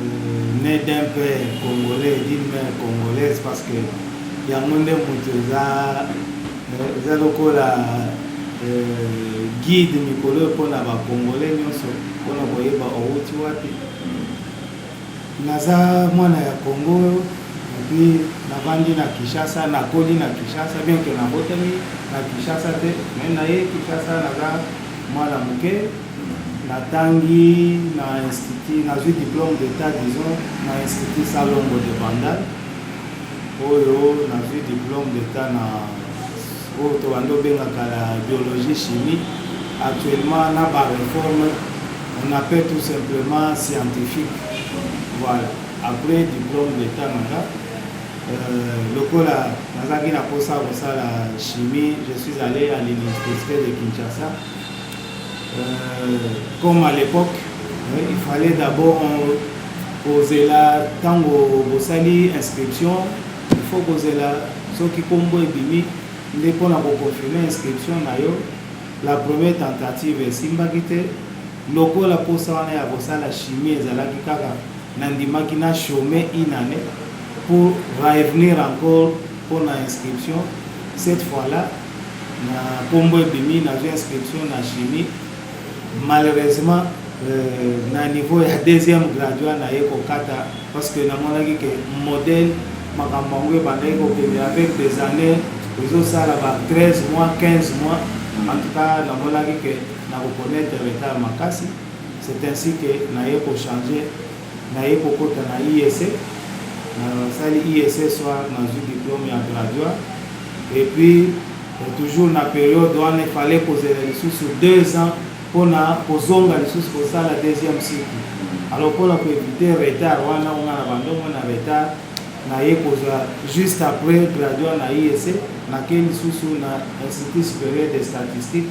euh, né d'un père congolais d'une mère congolaise parce que yango nde moto eza euh, eza lokola euh, guide mikolo oyo mpona bacongolais nyonso mpona koyeba owuti wapi naza mwana ya congo epuis navandi na kinshasa nakoli na kinshasa bien ke nabotami na kinshasa te mai naye kinshasa naza mwana moke Natangi na institut, nazui diplome d'etat disons na institut Salongo de Bandal oyo nazui diplome d'etat na oyo tobandi obengaka la biologie chimie actuellement na ba reforme on appelle tout simplement scientifique voilà après diplome d'etat na nga euh, lokola nazalaki na mposa ya kosala chimie je suis allé à l'université de kinshasa Euh, comme à l'époque, euh, il fallait d'abord kozela ntango bosali inscription il faut kozela soki nkombo ebimi nde mpo na koconfirme inscription na yo la première tentative esimbaki te lokola mposa wana ya kosala chimie ezalaki kaka nandimaki na chome inane pour revenir encore mpo na inscription cette fois là na kombo ebimi nazwi inscription na chimie malheureusement euh, na niveau ya deuxième graduat naye kokata parce que namonaki ke modèle makambo yango ebandaki kokende avec des années ezosala ba 13 mois 15 mois en tout cas namonaki ke nakokonaître retard makasi c'est ainsi que naye kochange Na ye kokota na IESE, na sali IESE soir na zui diplome ya graduat et puis toujours na periode wana il fallait kozela lisusu deux ans pona kozonga lisusu kosala deuxième cycle alors pona ko eviter retard wana nga na bando mwa na retard na ye kozwa juste après graduat na IESE na ke lisusu na Institut superieur des statistiques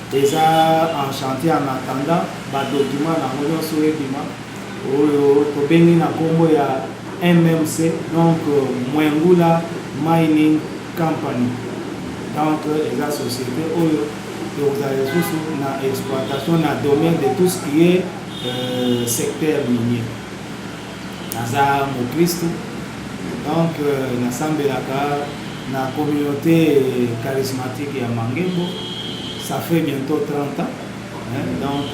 Eza en chantier en attendant ba documents nango nyonso ebima oyo tobengi na kombo ya MMC donc Mwengula Mining Company donc eza société oyo ekozala lisusu na exploitation na domaine de tout ce qui est euh, secteur minier Naza mokristu donc nasambelaka na communauté charismatique ya Mangembo ça fait bientôt 30 ans hein? donc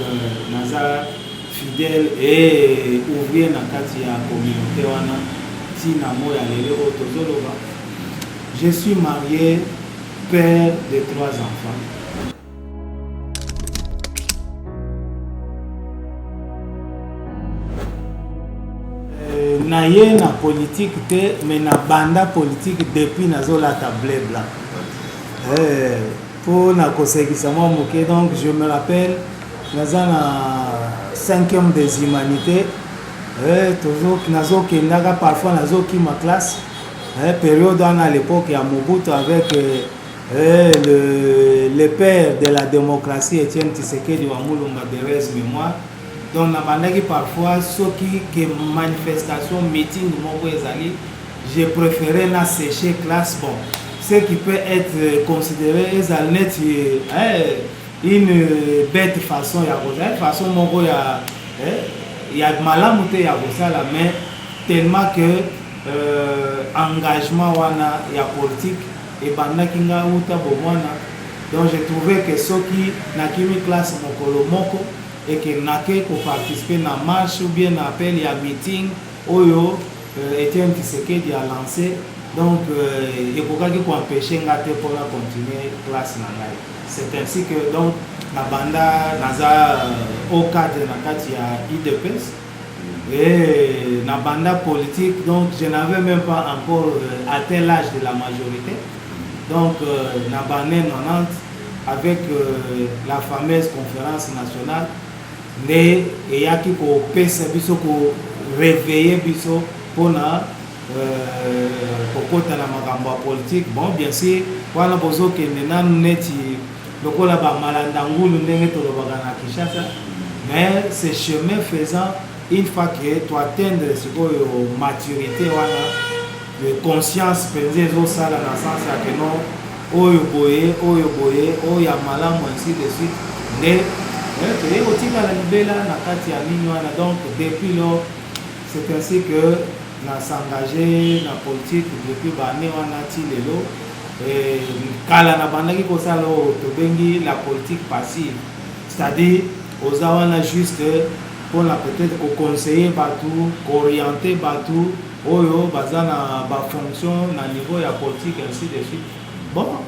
naza fidèle et ouvrier na kati ya communauté wana ntina moi ya lelo oyo tozoloba je suis marié père de trois enfants naye na politique te mais na banda politique depuis nazolata bleu blanc eh, mpo na kosekisa mwa moke donc je me rappelle naza na cinquième des humanités eh, nazokendaka parfois nazokima classe eh, période wana à l'époque ya mobutu avec Eh, le, le père de la démocratie Etienne Tshisekedi wa Mulumba de res mémoire donc nabandaki parfois soki ke manifestation meeting moko ezali je préféré na sécher classe bon ce qui peut être considéré ezali neti eh, une bête façon ya kozala façon moko ya eh, ya malamu te ya kosala mais tellement que euh, engagement wana ya politique Ebandaki nga wuta bomwana donc je trouvais que soki na kimi classe mokolo moko et que nake ko participer na marche ou bien na appel ya meeting oyo euh, Etienne Tshisekedi a lancé donc euh, ekokaki ko empêcher nga te pona continuer classe na ngai c'est ainsi que donc na banda naza euh, au cadre na kati ya IDPS Et na banda politique, donc je n'avais même pas encore euh, atteint l'âge de la majorité. Donc euh, na bande 90, avec euh, la fameuse conférence nationale, nde eyaki kopesa biso ko réveiller biso mpona euh, kokota na makambo ya politique bon bien sûr wana bozokende nanu neti lokola ba malanda ngulu ndenge tolobaka na Kinshasa mais ce chemin faisant une fois que to atteindre sikoyo maturité wana le conscience mpenza ezosala na sens ya que non oyo boye oyo boye oyo ya malamu ainsi de suite nde eh, toye kotikala libela na kati ya mini wana donc depuis lors c'est ainsi que Na s'engage na politique depuis ba annee wana ti lelo et kala na bandaki ko sala oyo tobengi la politique passive c'est-à-dire oza wana juste pona peut-être ko conseiller batu ko orienter batu oyo baza na ba fonction na niveau ya politique ainsi de suite bon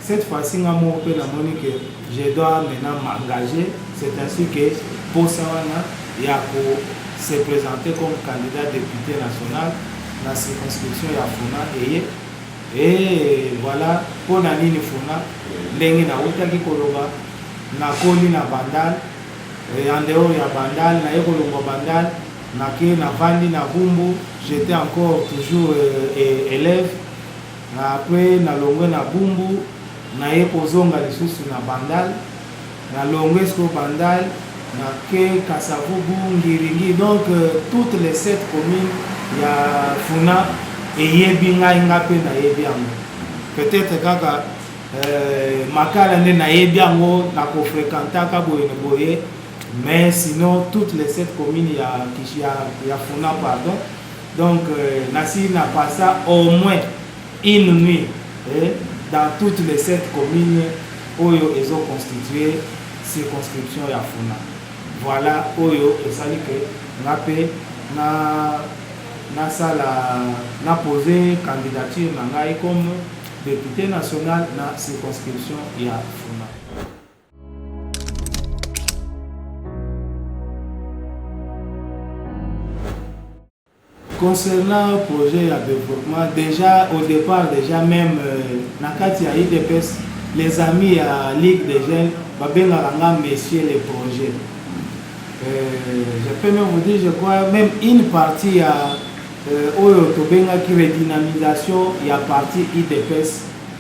Cette fois ci nga moko pe na moni que je dois maintenant m'engager, c'est ainsi que posa wana ya ko se presenter comme candidat depute national na circonscription ya Funa eye et voilà pona nini Funa ndenge nawutaki koloba nakoli na Bandal et en dehors ya Bandal naye kolongwa Bandal nake navandi na Bumbu j'étais encore toujours euh, élève Na kwe na longwe na bumbu na ye kozonga lisusu na bandal na longwe sikoyo bandal na ke kasavubu ngiringi donc toutes les sept commune ya funa eyebi ngai nga pe na yebi yango peut-être kaka euh, makala nde na yebi yango na ko frekantaka boye na boye mais sinon toutes les sept commune ya, ya, ya funa pardon Donc nasi na passa au moins une nuit dans toutes les sept communes oyo ezo constitue circonscription ya Funa. Voilà oyo esali que nga pe na nasala na poser candidature na ngai comme depute national na circonscription ya Funa. Concernant projet ya développement, déjà au départ, déjà même euh, na kati ya IDPS, les amis ya Ligue des Jeunes babengaka nga monsieur le projet. Euh, je peux même vous dire, je crois, même une partie ya euh, oyo tobengaki redynamisation ya parti IDPS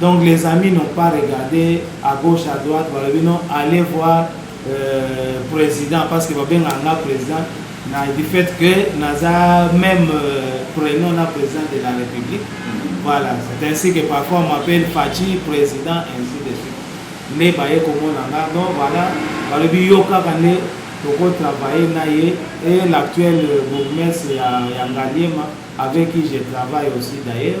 Donc les amis n'ont pas regardé à gauche à droite balobi non allez voir euh, président parce que babenga nga président na du fait que naza même euh, prénom na président de la république voilà c'est ainsi que parfois on m'appelle Fatshi président ainsi de suite nde baye komona nga donc voilà balobi yo kaka nde tokotravaille na ye et l'actuel bourgmestre ya, ya ngaliema avec qui je travaille aussi d'ailleurs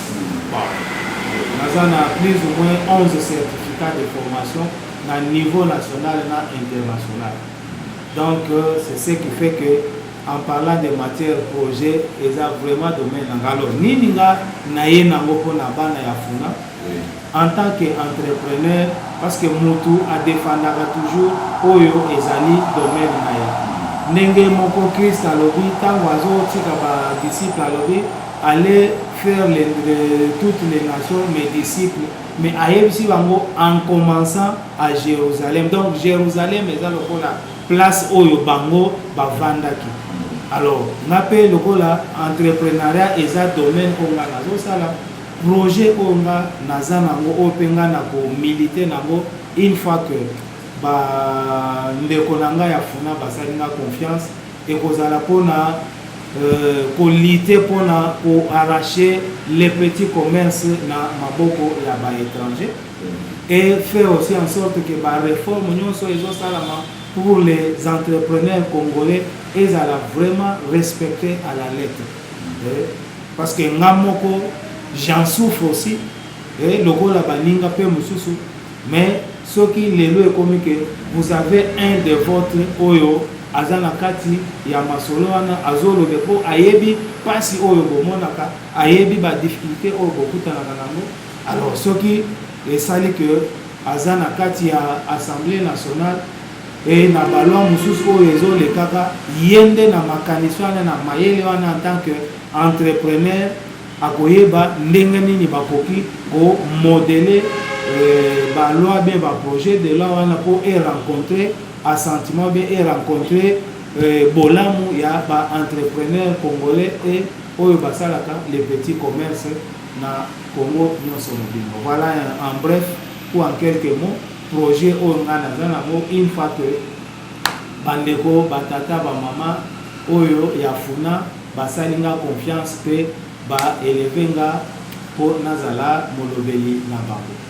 Naza na plus ou moins 11 certificats de formation na niveau national na international. Donc euh, c'est ce qui fait que en parlant de matière projet eza vraiment domaine na nga. Alors nini nga naye nango mpo na bana ya funa en tant que entrepreneur parce que mutu a defendaka toujours oyo ezali domaine na ye ndenge moko Christ alobi tango azotika ba disciples alobi allez faire les, les, toutes les nations mes disciples mais ayebisi bango en commençant à Jérusalem donc Jérusalem eza lokola place oyo bango bavandaki alors nga mpe lokola entrepreneuriat eza domaine oyo nga nazosala Projet oyo nga naza nango oyo pe nga nako militer nango une fois que ba ndeko na nga ya funa basali nga confiance ekozala pona ko lutter pona ko arracher les petits commerces na maboko ya ba etrangers et faire aussi en sorte que ba reformes nionso ezo salama pour les entrepreneurs congolais ezala vraiment respecter à la lettre. Parce que nga moko j'en souffre aussi eh, lokola baninga pe mosusu mais soki lelo ekomi que vous avez un de votre oyo aza na kati ya masolo wana azolobe mpo ayebi mpasi oyo bomonaka ayebi badifficulté oyo bokutanaka nango alors soki esali que aza na kati ya assemblée nationale Et na ba lois mosusu oyo ezo lekaka, ye nde na makanisi wana, na mayele wana en tant que entrepreneur akoyeba ndenge nini bakoki ko modeler ba lois bien ba projets de lois wana mpo e rencontrer assentiment bien e rencontrer bolamu ya ba entrepreneurs congolais et oyo basalaka les petits commerces na Congo nionso mobimba. Voilà en bref ou en quelques mots. Projet oyo nga naza nango une fois que ba ndeko, ba tata, ba maman oyo ya funa basali nga confiance pe ba elever nga po nazala molobeli na bango.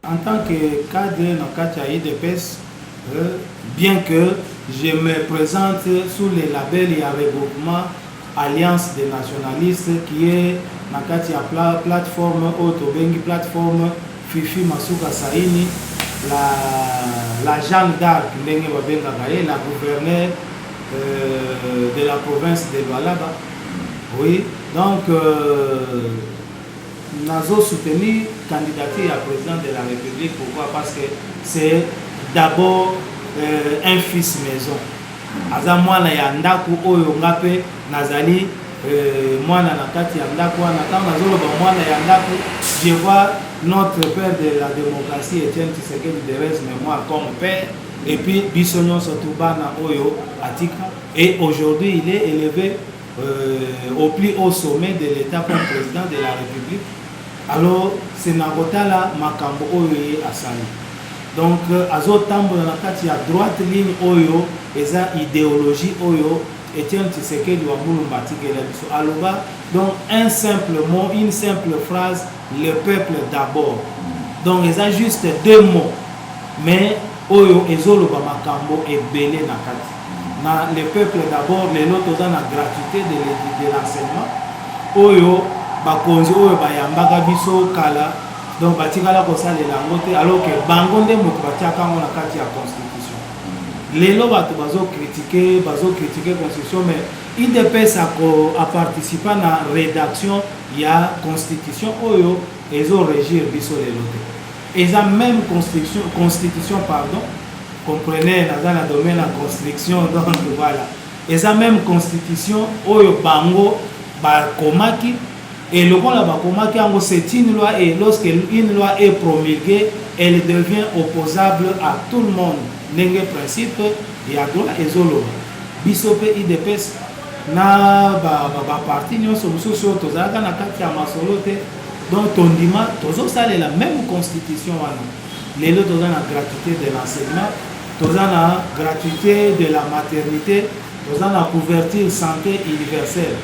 En tant que cadre na kati ya UDPS, euh, bien que je me présente sous le label ya regroupement Alliance des nationalistes qui est na kati ya pla, plateforme oyo tobengi plateforme Fifi Masuka Saini la, la Jeanne d'Arc ndenge babengaka ye la gouverneur euh, de la province de Lualaba oui donc euh, Nazo soutenir candidature ya president de la republique pourquoi parce que c'est d'abord euh, un fils maison aza mwana ya ndako oyo nga mpe nazali euh, mwana na kati ya ndako wana ntango nazoloba mwana ya ndako je vois notre père de la démocratie etienne tshisekedi de res mémoire comme père et puis biso nyonso tu bana oyo atika et aujourd'hui il est élevé euh, au plus haut sommet de l'État comme président de la République, alors c'est na kotala makambo oyo ye asali. Donc euh, azotambola na kati ya droite ligne oyo eza idéologie oyo Etienne Tshisekedi wa Mulumba atikela biso aloba donc un simple mot, une simple phrase, le peuple d'abord. Donc eza juste deux mots mais oyo ezoloba makambo ebele na kati. na les peuples d'abord lelo toza na gratuite de de l'enseignement oyo bakonzi oyo bayambaka biso kala donc batikala kosalela yango te alors que bango nde moto batiaka yango na kati ya constitution lelo bato bazokritike bazokritike constitution mais idps ako aparticipa na rédaction ya constitution oyo ezo régir biso lelo te Eza meme construction constitution pardon comprenez naza na domaine ya construction donc voilà eza meme constitution oyo bango bakomaki et lokola bakomaki yango c'est une loi et lorsque une loi est promulguée elle devient opposable à tout le monde ndenge principe ya droit ezoloba biso mpe idps na baparti ba, ba nyonso mosusu oyo tozalaka na kati ya masolo te Donc tondima tozosalela meme constitution wana lelo toza na gratuité de l'enseignement toza na gratuité de la maternité toza na couverture santé universelle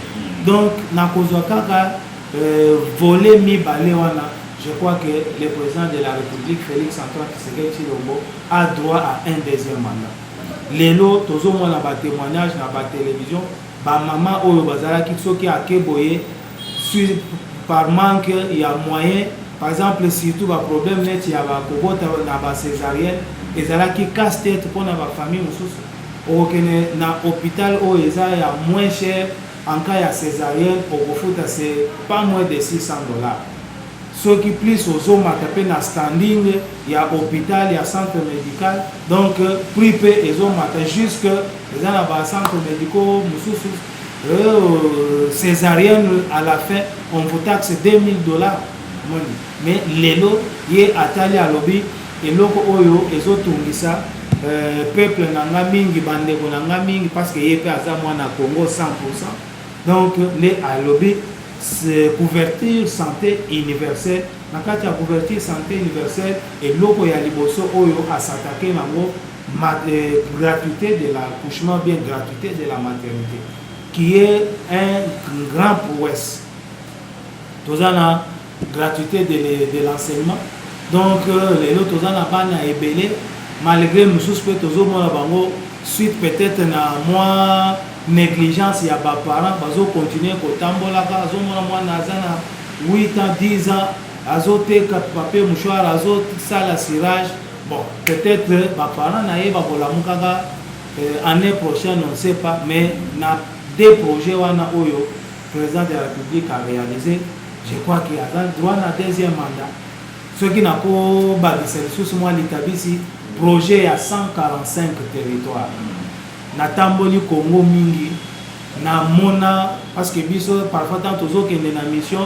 donc nakozwa kaka euh, volet mibale wana je crois que le président de la république félix antoine tshisekedi tshilombo a droit à un deuxième mandat lelo tozomona batémoignage na batelevizio bamama oyo bazalaki soki ake boye sur par manque ya moyen par exemple surtout ba problème neti ya ba kobota na ba césarienne ezalaki casse tête mpo na ba famille mosusu okokende na hôpital oyo eza ya moins cher en cas ya césarienne okofuta c'est pas moins de 600 dollars soki plus ozomata mpe na standing ya hôpital ya centre médical donc prix mpe ezomata jusque eza na ba centre médicaux mosusu Euh, césarienne à la fin on vous taxe 2000 dollars moni mais lelo ye atali alobi eloko oyo ezotungisa euh, peuple na nga mingi bandeko na nga mingi parce que ye mpe aza mwana congo 100 donc nde alobi couverture santé universelle na kati ya couverture santé universelle eloko ya liboso oyo asatake nango gratuite de l'accouchement bien gratuite de la maternité qui est un grand prouesse toza na gratuité de, de l'enseignement donc euh, lelo toza na bana ebele malgré mosusu mpe tozomona bango suite peut-être na mwa négligence ya baparent bazokontinue kotambolaka azomona mwana aza na 8 ans 10 ans azoteka papier mouchoir azosala sirage Bon, peut-être ba parents na ye bakolamukaka euh, année prochaine, on ne sait pas, mais na deux projets wana oyo président de la République a réalisé, je crois qu'il a droit na deuxième mandat. soki nakobakisa lisusu mwa litabisi projet ya 145 territoire natamboli congo mingi namona parce que biso parfois ntango tozokende na mission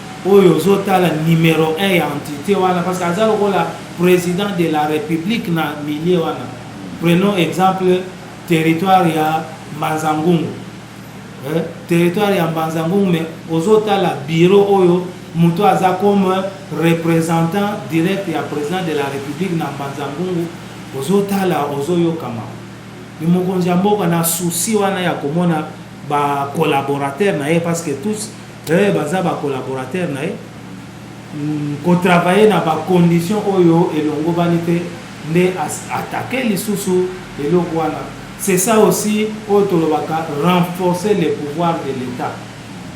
oyo ozo tala numero 1 ya entite wana parce que aza lokola president de la republique na milieu wana prenons exemple territoire ya mbanzangungu eh? territoire ya mbanzangungu mais ozo tala bureau oyo moto aza comme représentant direct ya président de la république na mbanzangungu ozo tala ozo yokama ni mokonzi ya mboka na souci wana ya komona ba collaborateurs na ye parce que tous eh, baza ba collaborateur na ye mm, ko travailler na ba conditions oyo elongobani te nde attaquer lisusu eloko wana c'est ça aussi oyo tolobaka renforcer le pouvoir de l'état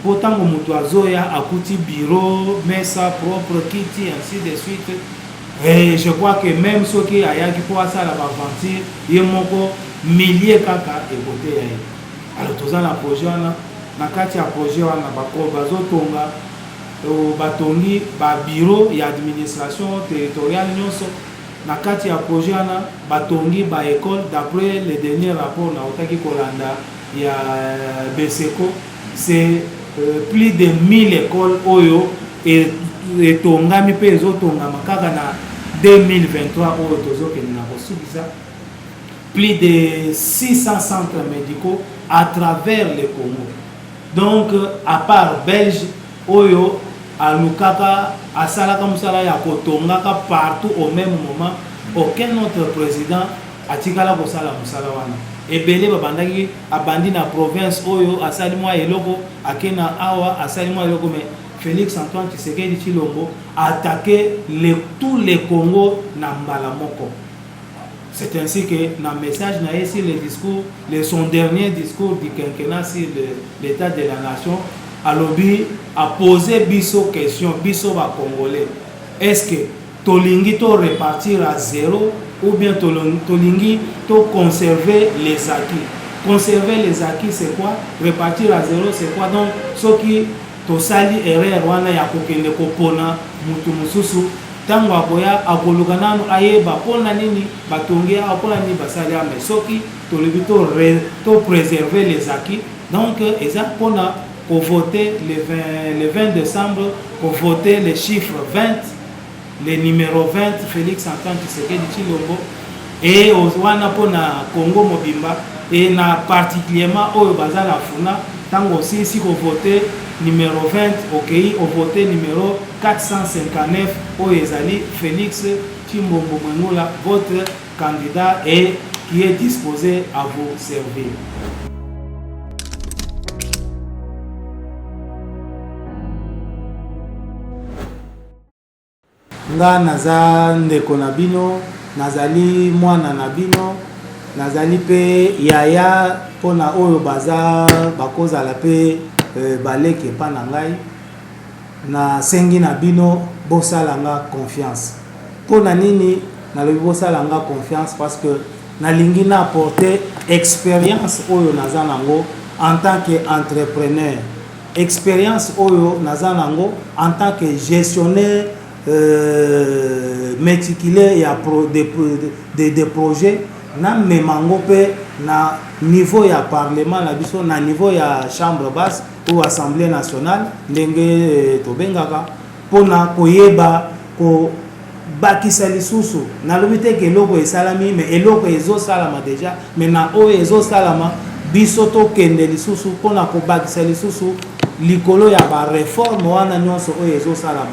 mpo ntango moto azoya akuti bureau mesa propre kiti ainsi de suite et je crois que même soki ayaki mpo asala baventure ye moko milie kaka ekoteya ye Alors toza na projet wana na kati ya projet wana bako bazotonga batongi ba bureau ya administration territoriale nyonso na kati ya projet wana batongi ba école d'après le dernier rapport nautaki kolanda ya euh, beseco c'est euh, plus de 1000 écoles oyo etongami mpe ezotongama kaka na 2023 oyo tozokende na kosukisa Plus de 600 centres medicaux à travers le Congo. Donc, à part Belge, oyo alukaka asalaka musala ya kotongaka partout au même moment, aucun autre président atikala kosala musala wana. Ebele babandaki abandi na province oyo asali mwa eloko akena awa asali mwa eloko mais Félix Antoine Tshisekedi Tshilombo attaquer le, tout le Congo na mbala moko. C'est ainsi que na message na ye sur le discours, le son dernier discours du quinquennat sur l'état de la nation, alobi a poser biso question, biso ba congolais, est-ce que tolingi to repartir à zero ou bien tolingi to conserver les acquis? Conserver les acquis c'est quoi? Repartir à zero c'est quoi? Donc soki Tosali erreur wana ya kokende kopona mutu mususu, tango akoya akoluka nanu ayeba pona nini batongi ye awa, pona nini basali awa, mais soki tolobi to re to preserver les acquis donc eza pona ko voter le 20 le 20 decembre ko voter le chiffre 20, le numero 20 Felix Antoine Tshisekedi Tshilombo et wana mpo na Congo mobimba et na particulièrement oyo baza na funa ntango osilisi kovote numero 20 okei ovote numero 459 oyo ezali Felix Tshimbombo Mwengola votre candidat et qui est disposé à vous servir. Nga naza ndeko na bino, nazali mwana na bino, nazali pe yaya po na oyo baza bakozala pe baleki epa na ngai. Na sengi na bino bosala nga confiance. Po na nini nalobi bosala nga confiance? Parce que nalingi na apporter experience oyo naza nango en tant que entrepreneur. Experience oyo naza nango en tant que gestionnaire euh, meticuleux ya pro, de, de, de, de projet namema yango mpe na niveau ya parlement na biso na niveau ya chambre basse ou assemblée nationale ndenge euh, tobengaka mpona koyeba ko Bakisa lisusu, nalobi te que eloko esalami mais eloko ezo salama dejà mais na oyo ezo salama biso to kende lisusu pona ko bakisa lisusu likolo ya ba reforme wana nionso oyo ezo salama.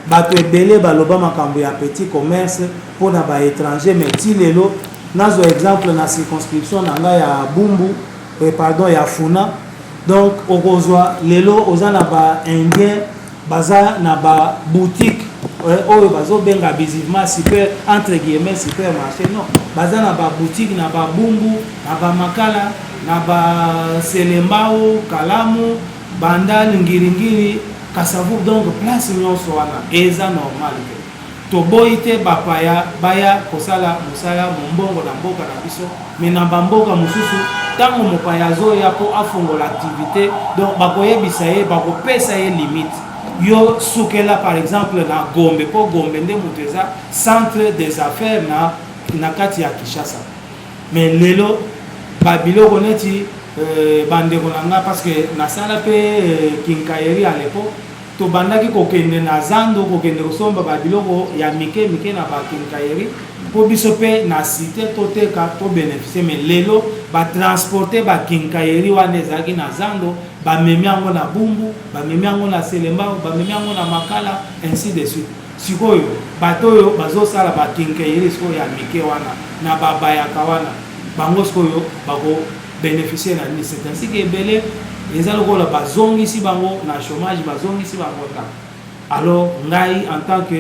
Batu ebele ba loba makambu ya petit commerce pona ba etrangers mais ti lelo nazwa exemple na circonscription na nga ya Bumbu eh, pardon ya Funa donc okozwa lelo oza na ba indiens baza na ba boutique eh, oyo bazobenga abusivement super entre guillemets super marché non baza na ba boutique na ba bumbu na ba makala na ba selembao kalamu bandal ngiringiri kasavu donc place nyonso wana eza normal Toboyi te bapaya baya kosala mosala mombongo na mboka na biso mais na ba mboka mosusu tango mopaya azoya po afongola activite donc bakoyebisa ye bakopesa ye limite yo sukela par exemple na Gombe po Gombe nde moto eza centre des affaires na na kati ya Kinshasa mais lelo ba biloko neti euh, bandeko na nga parce que nasala pe euh, kinkaeri à l'époque Tobandaki kokende na zando kokende kosomba ba biloko ya mike mike na ba quincaillerie mpo biso mpe na cite toteka to beneficie mais lelo ba transporte ba quincaillerie wana ezalaki na zando bamemi yango na bumbu bamemi yango na selembao bamemi yango na makala ainsi de suite sikoyo bato oyo bazosala bakinkeiri sikoyo ya mike wana na babayaka wana bango sikoyo bako beneficier na nini c'est ainsi que ebele eza lokola bazongisi bango na chômage bazongisi bango ta alors ngai en tant que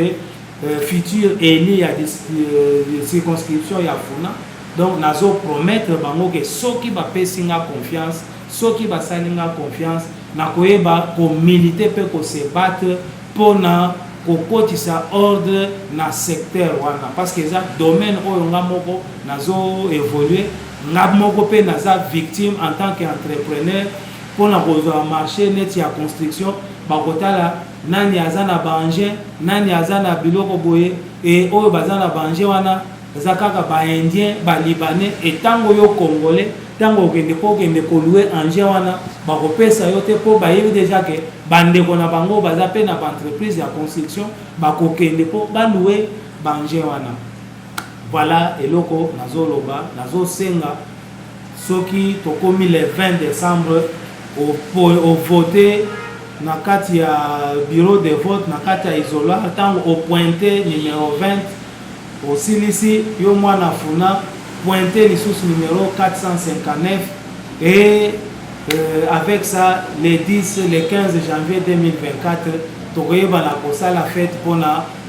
euh, futur élu ya euh, circonscription ya funa donc nazo promettre bango ke soki bapesi nga confiance soki basali nga confiance nakoyeba komilite mpe kosebattre mpo na kokotisa ordre na secteur wana parce que eza domaine oyo nga moko nazo évoluer Nga moko pe naza victime en tant que entrepreneur pona kozwa marche neti ya construction bakotala nani aza na ba engin nani aza na biloko boye et oyo baza na ba engin wana eza kaka ba indien ba libanais et tango yo congolais tango okende po okende ko loue engin wana bakopesa yo te po bayebi deja ke bandeko na bango baza pe na ba entreprise ya construction bakokende po ba loue ba engin wana Voilà eloko nazo loba nazo senga soki tokomi le 20 décembre au voter na kati ya bureau de vote na kati ya isola ntango opointe numero 20 osilisi yo mwana funa pointe lisusu numero 459 et euh, avec ça le 10 le 15 janvier 2024 tokoyebana kosala fete mpona